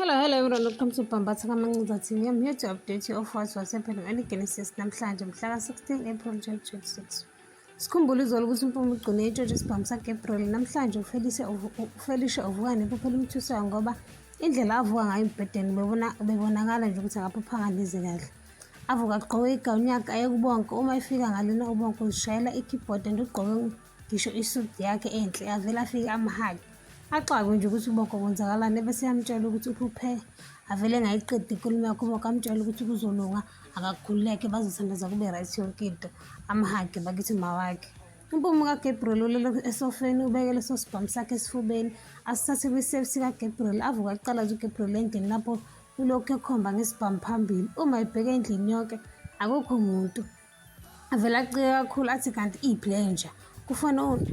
Hello, hello everyone, welcome to Bambatha Kamancuza TV. I'm here to update you of what's what's happening on Genesis namhlanje mhla ka-16 April 2026. Sikhumbule izolo ukuthi uMpume ugcine itshotshwe isibhamu saGabriel namhlanje uFelicia uFelicia uvuka nekuphela umthusayo ngoba indlela avuka ngayo embhedeni ubebona ubebonakala nje ukuthi akaphaphanga neze kahle. Avuka agqoke igawuni yakhe ayekubonke uma efika ngalena ubonke uzishayela i-keyboard and ugqoke ngisho isudi yakhe enhle avele afike amhali axakwe nje ukuthi uboko kwenzakalani ebese yamtshela ukuthi uphuphe avele ngayiqedi inkulumo yakho uboko amtshela ukuthi kuzolunga akakhululeke bazothandaza kube right yonke into amhage bakithi mawakhe umpumo kaGabriel ulele esofeni ubeke leso sibhamu sakhe esifubeni asithathe kwi-safe sikaGabriel avuka kuqala nje uGabriel endlini lapho ulokhu ekhomba ngesibhamu phambili uma ebheke endlini yonke akukho muntu avele acike kakhulu athi kanti iphi le nja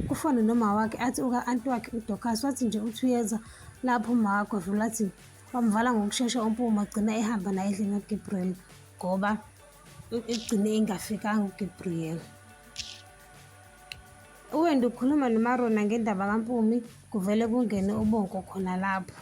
kufone noma wakhe athi uka-anti wakhe udocas wathi nje uthi uyeza lapho umawakho avele athi wamvala ngokushesha umpuma agcina ehamba naye endlini kaGabriel ngoba egcine engafikanga uGabriel uwenda ukhuluma nomarona ngendaba kampumi kuvele kungene ubonko khona lapho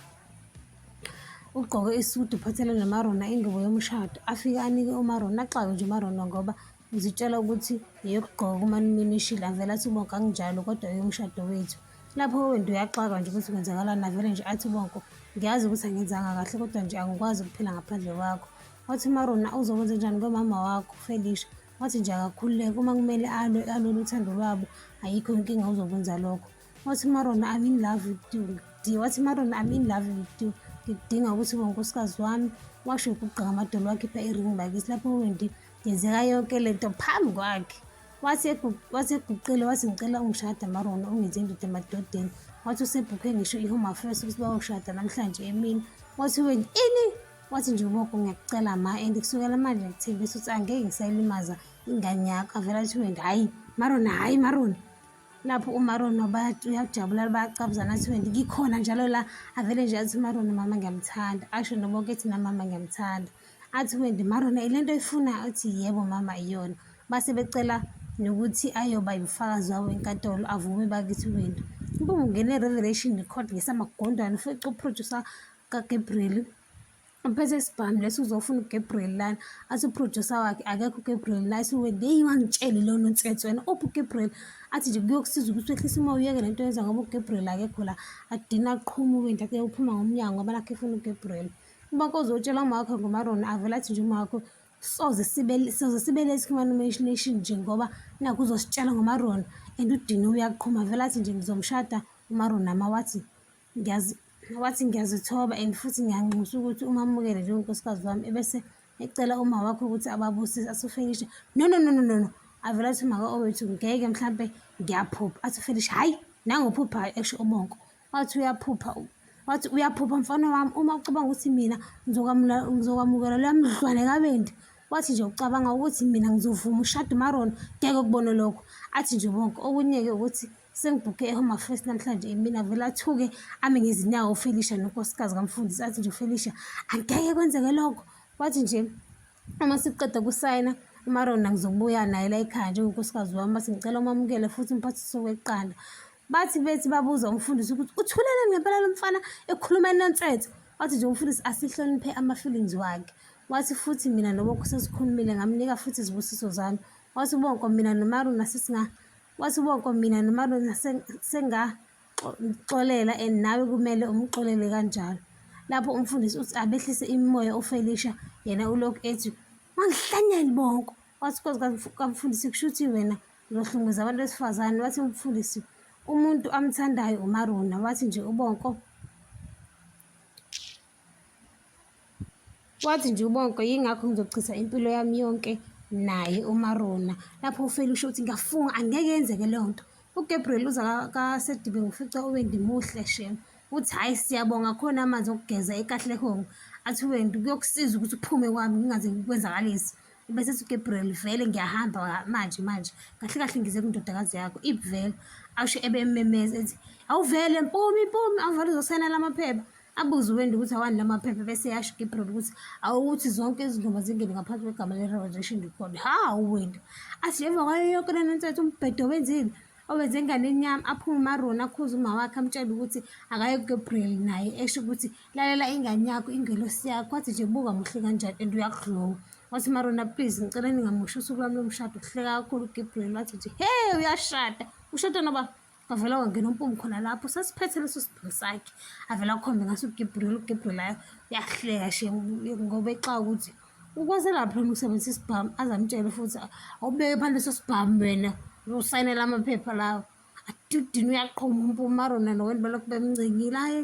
Ugqoke isudu uphathele noMarona ingubo yomshado afike anike uMarona axawe nje uMarona ngoba uzitshela ukuthi yeyokugqoka kumanuminishile avele athi ubonke anginjalo kodwa eyomshado wethu lapho wena uyaxaka nje ukuthi kwenzakalani avele nje athi ubonke ngiyazi ukuthi angenzanga kahle kodwa nje angikwazi ukuphila ngaphandle kwakho wathi uMarona uzokwenza njani komama wakho Felisha wathi nje akakhululeke uma kumele alwe alwele uthando lwabo ayikho inkinga uzokwenza lokho Wathi uMarona I'm in love with you ngidinga wathi uMarona I'm in love with you ngidinga ukuthi ube unkosikazi wami washo ukugqika amadolo wakhipha i-ring bakisi lapho wendi yenzeka yonke le nto phambi kwakhe wathi eguqile wathi ngicela ungishada marona ungenze indoda emadodeni wathi usebhukhe ngisho i-home affairs ukuthi bayoshada namhlanje emini wathi weni ini wathi nje uboko ngiyakucela ma and kusukela manje ngithembisa ukuthi angeke ngisayilimaza ingane yakho avela athi wendi hhayi marona hhayi marona lapho umaro nobat uyajabula bayacabuzana athi wendi ngikhona njalo la avele nje athi umaro nomama ngiyamthanda asho noboke ethi namama ngiyamthanda athi wendi marona ile nto ifunayo athi yebo mama iyona base becela nokuthi ayoba yimfakazi wawo enkantolo avume bakithi wendi ubungene revelation record ngesamagondwane ufica uproducer kagabriel bese sibhamu lesi uzofuna ugabriel lana athi uproducer wakhe akekho ugabriel la siwe ngeyi wangitsheli lowo nonsensi wena ophi ugabriel athi nje kuyokusiza ukuthi wehlise uma uyeke le nto yenza ngoba ugabriel akekho la akudina aqhumuke nje ake uphuma ngomnyango ngoba nakho efuna ugabriel uba kozotshela umakho ngomarona avele athi nje umakho soze sibe soze sibe late human imagination nje ngoba naku uzositshela ngomarona and udini uyaqhuma vele athi nje ngizomshada umarona ma wathi wathi ngiyazithoba and futhi ngiyanxusa ukuthi umamukele njengonkosikazi wami ebese ecela uma wakho ukuthi ababusise asufinishe no no no no no no avela athi maka owethu ngeke mhlampe ngiyaphupha athi ufinishe hhayi nangophuphayo esho ubonko wathi uyaphupha wathi uyaphupha mfana wami uma ucabanga ukuthi mina ngizokwamukela leya mdlwane kabendi wathi nje ucabanga ukuthi mina ngizovuma ushade umarona ngeke ukubone lokho athi nje bonke okunye-ke ukuthi sengibhukhe ehome affairs namhlanje imina vele athuke ame ngezinyawo ufelisha nonkosikazi kamfundisi athi nje ufelisha angeke kwenzeke lokho wathi nje uma sikuqeda kusayina umarona ngizobuya naye la ekhaya njengonkosikazi wami bathi ngicela umamukele futhi umphathiso weqanda bathi bethi babuza umfundisi ukuthi uthulele ngempela lo mfana ekhuluma enonsetho wathi nje umfundisi asihloniphe ama-feelings wakhe wathi futhi mina nobo kusesikhulumile ngamnika futhi izibusiso zami wathi bonko mina nomaruna sesinga Wathi uBonko mina noMalona sengaxolela and nawe kumele umxolele kanjalo. Lapho umfundisi uthi abehlise imimoya uFelicia yena ulokhu ethi wangihlanyela Bonko. Wathi kwazi kamfundisi kusho ukuthi wena uzohlunguza abantu besifazane. Wathi umfundisi umuntu amthandayo uMarona wathi nje uBonko Wathi nje ubonke yingakho ngizochitha impilo yami yonke naye uMarona. Lapho uFeli usho ukuthi ngiyafunga angeke yenzeke leyo nto. UGabriel uza kaSedibe ngifica uWendi muhle shem. Uthi hhayi siyabonga khona amanzi okugeza ekahlehong. Athi uWendi kuyokusiza ukuthi uphume kwami ngingaze ngikwenzakalise. Bese ethi uGabriel vele ngiyahamba manje manje. Kahle kahle ngize kundodakazi yakho ibvele. Asho ebe ememeza ethi awuvele mpumi mpumi awuvele uzosayina lamaphepha. Abuze uWendy ukuthi awani la maphepha bese eyasho uGibril ukuthi awukuthi zonke izingoma zingene ngaphansi kwegama le-Revelation Record. Hawu Wendy, athi ngemva kwayo yonke lena nsetho umbhedo wenzile owenze enganeni yami aphume umaroni akhuze uma wakhe amtshele ukuthi akaye kuGabriel naye esho ukuthi lalela ingane yakho ingelosi yakho wathi nje buka muhle kanjani and uyakudlowa wathi marona please ngicela ningamusho usuku lwami lomshado kuhleka kakhulu uGabriel wathi nje hey uyashada ushada noba wavela wangena umpumi khona lapho sasiphethe leso sibhuku sakhe avela akhombe ngaso ugebriel ugebrielayo uyahleka she ngoba exa ukuthi ukwenzelaphi lona ukusebenzisa isibhamu azamtshele futhi awubeke phansi leso sibhamu wena usayinela amaphepha lawo adudini uyaqhuma umpumarona noweni balokhu bemncengile aye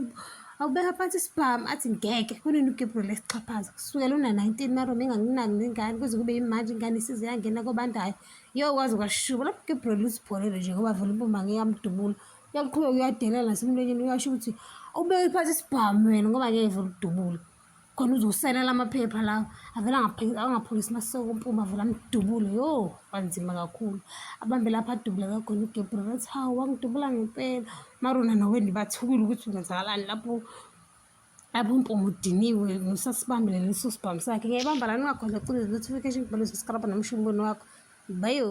awubeka phansi isibhamu athi ngeke kunini ugebriel esixhaphaza kusukela una-nineteen marona enganginani nengane kuze kube yimanje ingane isize yangena kobandayo Yo kwaze kwashuba lapho ke bro lusibholele nje ngoba vele impumba ngeke amdubula. Uyaqhubeka uyadelela nasemlonyeni uyasho ukuthi ubeke phansi isibhamu wena ngoba ngeke vele udubule. Khona uzoselela amaphepha lawo avele angaphulisi masoko umpumba avele amdubule. Yo kwanzima kakhulu. Abambe lapha adubule kakhona uGabriel athi hawu wangidubula ngempela. Marona naweni bathukile ukuthi kwenzakalani lapho abumpumu udiniwe ngisasibambile leso sibhamu sakhe ngiyayibamba lani ungakhona cula notification bhalo subscribe nomusho umbono wakho bayo